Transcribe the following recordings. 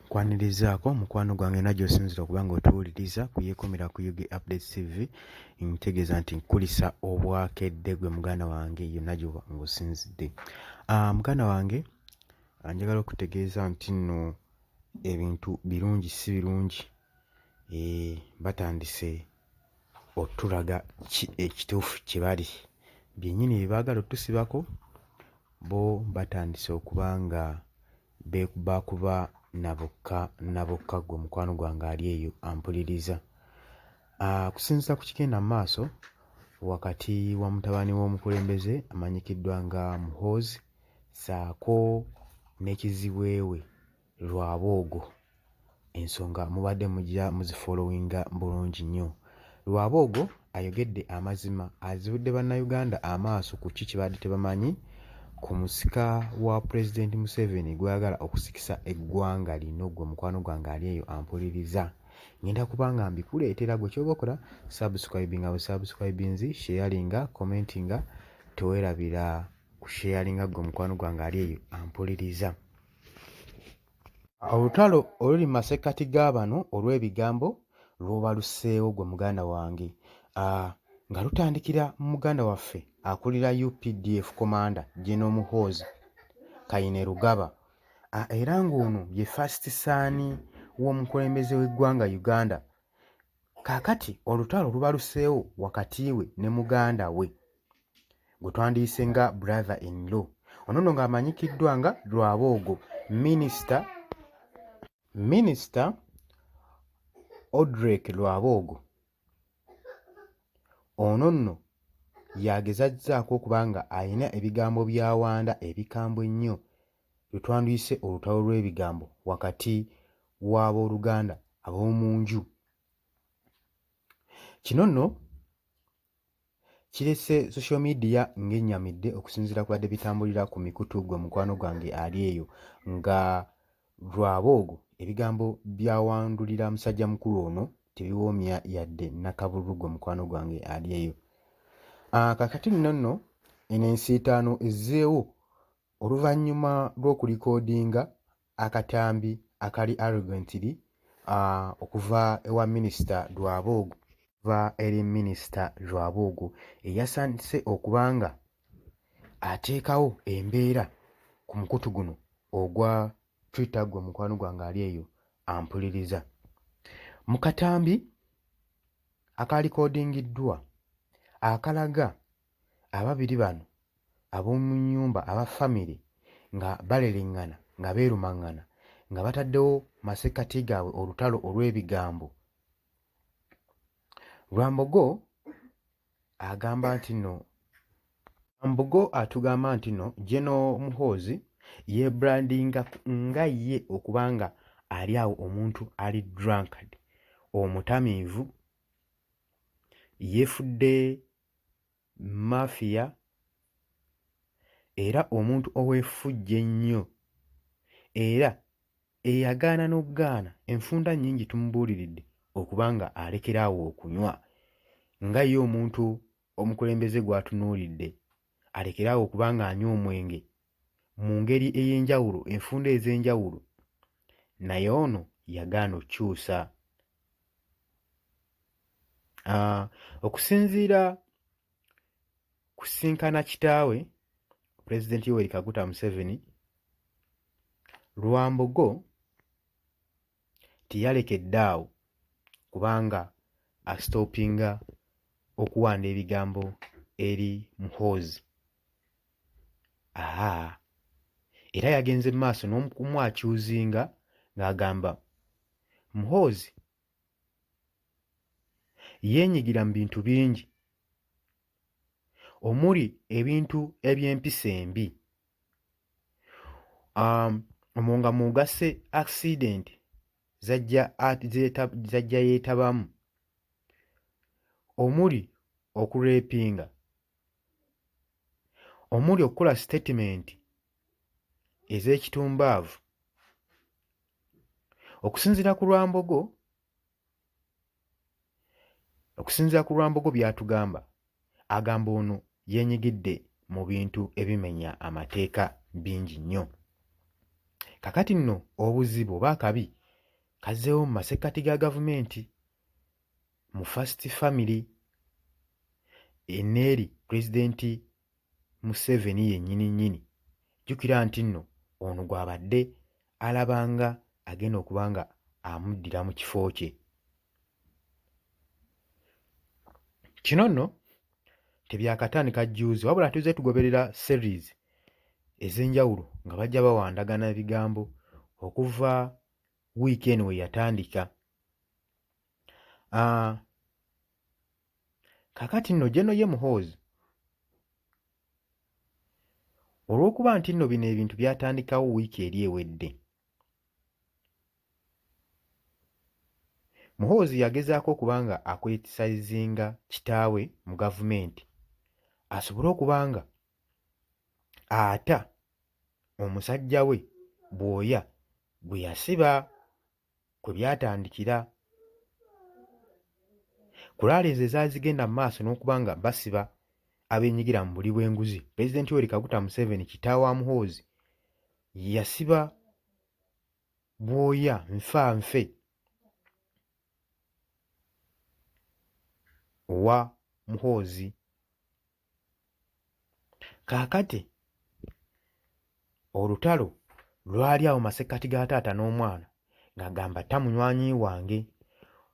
kwanirizaako mukwano gwange najo osinzira okuba nga otuwuliriza kuyekomera ku ug update tv ntegeeza nti nkulisa obwakedde gwe muganda wange yo najo ngaosinzidde ah, muganda wange ah, njagala okutegeeza nti nno ebintu birungi si birungi eh, batandise otulaga ki ekituufu kye bali byennyini bye baagala otusibako bo batandise okuba nga beekuba kuba na bokka na bokka gwe mukwano gwange ali eyo ampuliriza kusinzira ku kigenda mu maaso wakati wa mutabani w'omukulembeze amanyikiddwa nga muhoozi saako n'ekiziweewe lwaboogo ensonga mubadde mujja muzifolowinga bulungi nnyo lwaboogo ayogedde amazima azibudde bannayuganda amaaso ku ki kibadde tebamanyi ku musika wa pulezidenti museveni gweyagala okusikisa eggwanga lino gwe mukwano gwange ali eyo ampuliriza ngenda kubanga mbikuleetera gwe kyoba okola subscribinga busubscribinzi sheyalinga commentinga tewerabira kusheyalinga gwe mukwano gwange ali eyo ampuliriza Olutalo oluli mu masekkati ga bano olw'ebigambo lw'obaluseewo gwe muganda wange ah, nga lutandikira mu muganda waffe akulira updf komanda Geno Muhoozi Kainerugaba ah, era ng'ono ye fasiti saani w'omukulembeze w'eggwanga Uganda. Kaakati olutalo lubaluseewo wakati we ne muganda we gwe twandiyise nga brother in law ono no ng'amanyikiddwa nga lwaboogo minisita minisita odrek lwaboogo ono nno yagezazzaako okuba nga alina ebigambo bya wanda ebikambwe ennyo lwe twanduyise olutalo lw'ebigambo wakati w'abooluganda ab'omu nju kino nno Kirese social media ng'ennyamidde okusinziira ku badde bitambulira ku mikutu gwe mukwano gwange ali eyo nga lwaboogo ebigambo byawandulira musajja mukulu ono tebiwoomya yadde nakabululu gwe mukwano gwange ali eyo ah, kakati nno nno eno ensiitaano ezzeewo oluvannyuma lw'okulikodinga akatambi akali arrogantly uh, okuva ewa minisita Rwabogo okuva eri minisita Rwabogo eyasandise okuba nga ateekawo embeera ku mukutu guno ogwa Twitter gwe mukwano gwange ali eyo ampuliriza mu katambi akalikodingiddwa akalaga ababiri bano ab'omu nnyumba aba famire nga baleleŋŋana nga beerumaŋŋana nga bataddewo masekkati gaabwe olutalo olw'ebigambo. Rwambogo agamba nti no Rwambogo atugamba nti no Geno Muhoozi yeebrandinga nga ye okuba nga ali awo omuntu ali drunkard omutamiivu yeefudde Mafia era omuntu ow'efujjo ennyo era eyagaana n'okugaana enfunda nnyingi tumubuuliridde okuba ng'alekera awo okunywa nga ye omuntu omukulembeze gw'atunuulidde alekere awo okuba ng'anywa omwenge mu ngeri ey'enjawulo enfunda ez'enjawulo naye ono yagaana okukyusa. Ah, okusinziira kusisinkana kitaawe Pulezidenti Yoweri Kaguta Museveni, Rwambogo teyalekedde awo kubanga asitoopinga okuwaanda ebigambo eri Muhoozi haa era yagenze mu maaso n'okumwacuuzinga ng'agamba Muhoozi yeenyigira mu bintu bingi omuli ebintu eby'empisa embi. um, omwo nga mugasse accident zajja zajja yeetabamu omuli okurepinga omuli okukola sitatimenti ez'ekitumbaavu okusinziira ku lwambogo Okusinzira ku Rwambogo by'atugamba, agamba ono yeenyigidde mu bintu ebimenya amateeka bingi nnyo. Kakati nno obuzibu oba akabi kazzeewo mu masekkati ga gavumenti mu First Family eneeri Pulezidenti Museveni yennyini nnyini. Jjukira nti nno ono gw'abadde alaba nga agenda okuba nga amuddira mu kifo kye. Kino nno tebyakatandika jjuuzi wabula tuzze tugoberera series ez'enjawulo nga bajja bawandagana ebigambo okuva wiiki eno we yatandika. Ah, kakati nno geno ye muhoozi olw'okuba nti nno bino ebintu byatandikawo wiiki eri ewedde muhoozi yagezaako okuba nga akwetisayizinga kitaawe mu gavumenti asobole okuba nga ata omusajja we bwoya gwe yasiba kwe byatandikira. Kulaala ezo ezaazigenda mu maaso n'okuba nga basiba abenyigira mu buli bw'enguzi. Pulezidenti Yoweri Kaguta Museveni kitaawa Muhoozi yasiba bwoya nfa nfe owa Muhoozi. kaakati olutalo lwali awo masekkati ga taata n'omwana ng'agamba tamunywanyi wange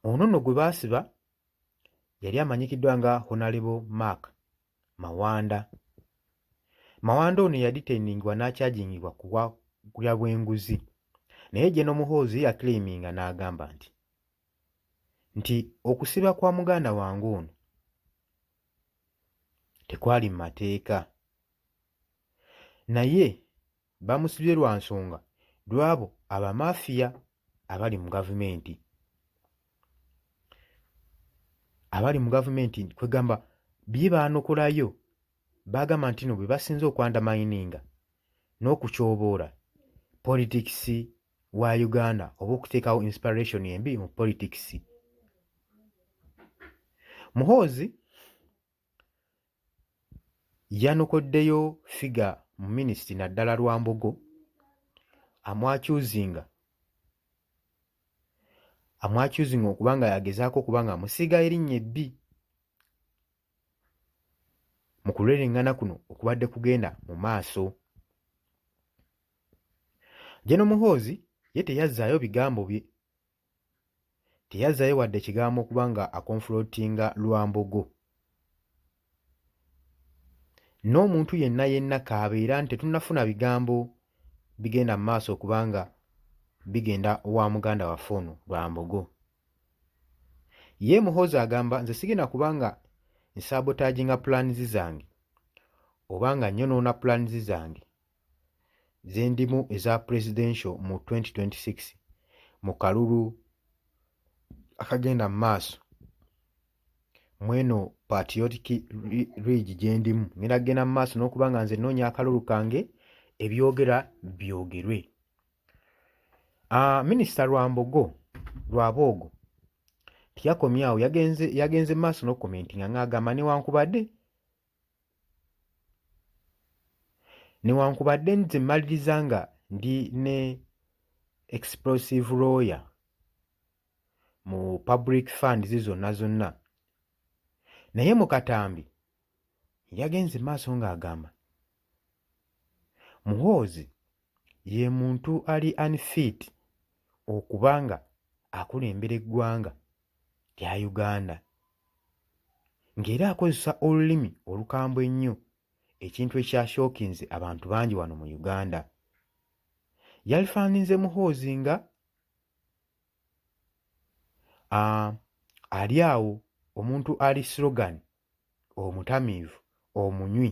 ono nno gwe baasiba yali amanyikiddwa nga honalebo mark mawanda mawanda ono yaditendingibwa n'akyajingibwa kuwa kulya bw'enguzi naye gye n'omuhoozi yakiliiminga n'agamba nti nti okusiba kwa muganda wange ono tekwali mu mateeka naye bamusibye lwa nsonga lw'abo abamafiya abali mu gavumenti abali mu gavumenti kwegamba bye baanokolayo baagamba nti no bwe basinze okwandamayininga n'okutyoboola politikisi wa Uganda oba okuteekawo inspiration embi mu politics. Muhoozi yanokoddeyo figa mu minisiti naddala Rwambogo amwakyuzinga amwakyuzinga okuba nga yagezaako okuba nga amusiiga erinnya ebbi. mu kulwereŋŋana kuno okubadde kugenda mu maaso. Jeno Muhoozi ye teyazzaayo bigambo bye teyazzaayo wadde ekigambo okuba nga akonfulootinga Lwambogo n'omuntu yenna yenna kaabeera nti tetunnafuna bigambo bigenda mu maaso okubanga bigenda wa muganda waffe ono Lwambogo Ye Muhoozi agamba nze sigenda kuba nga nsaabotaginga pulaanizi zange oba nga nyonoona pulaanizi zange ze ndimu eza Presidential mu 2026 mu kalulu akagenda mu maaso mweno patriotic ridge gye ndimu ngenda kugenda mu maaso n'okuba nga nze nnoonya akalulu kange ebyogera byogerwe. Uh, minisita Rwambogo Rwaboogo tiyakomye awo yagenze yagenze maaso n'okukomentinga ng'agamba newankubadde newankubadde nze mmaliriza nga ndi ne explosive lawyer mu public funds zonna zonna naye mu katambi yagenze maaso ng'agamba muhoozi ye muntu ali unfit okuba nga akulembera eggwanga lya uganda ng'era akozesa olulimi olukambwe ennyo ekintu ekyashookinze abantu bangi wano mu uganda yalifaanize muhoozi nga ah, ali awo omuntu ali slogan omutamiivu omunywi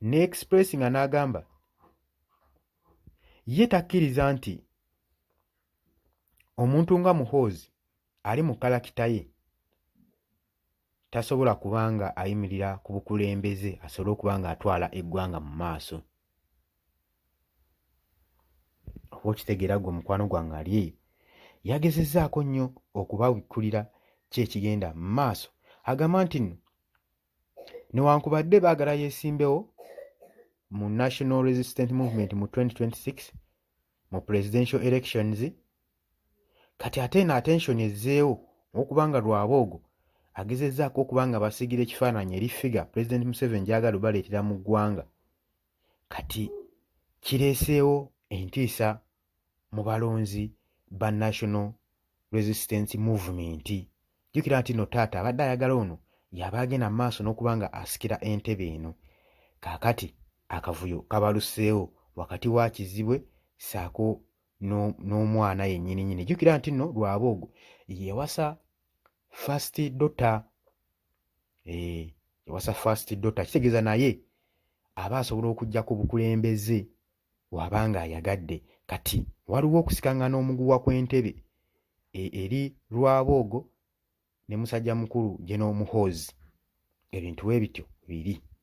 ne express nga n'agamba ye takkiriza nti omuntu nga muhoozi ali mu kalakita ye tasobola kuba nga ayimirira ku bukulembeze asobole okuba nga atwala eggwanga mu maaso oba okitegeera gwe mukwano gwange ali eyo yagezezaako nnyo okubabikkulira ki ekigenda mu maaso agamba nti nno newankubadde baagala yeesimbewo mu national resistant movement mu 2026 mu presidential elections kati ate eno attention ezzeewo okubanga Rwaboogo agezezzaako okuba nga basigira ekifaananyi eri ffiga Pulezidenti Museveni gy'agala obaleetera mu ggwanga kati kireeseewo entiisa mu balonzi ba National Resistance Movement. Jjukira nti no taata abadde ayagala ono yaba agenda mu maaso n'okuba nga asikira entebe eno. Kaakati akavuyo kabaluseewo wakati wa Kizibwe ssaako n'omwana yennyini nyini jjukira nti nno lwaboogo yewasa first dota eh, yewasa first dota kitegeeza naye aba asobola okujja ku bukulembeze waba nga ayagadde kati waliwo okusikaŋŋana omuguwa kw'entebe e, eri lwaboogo ne musajja mukulu geno muhoozi ebintu we bityo biri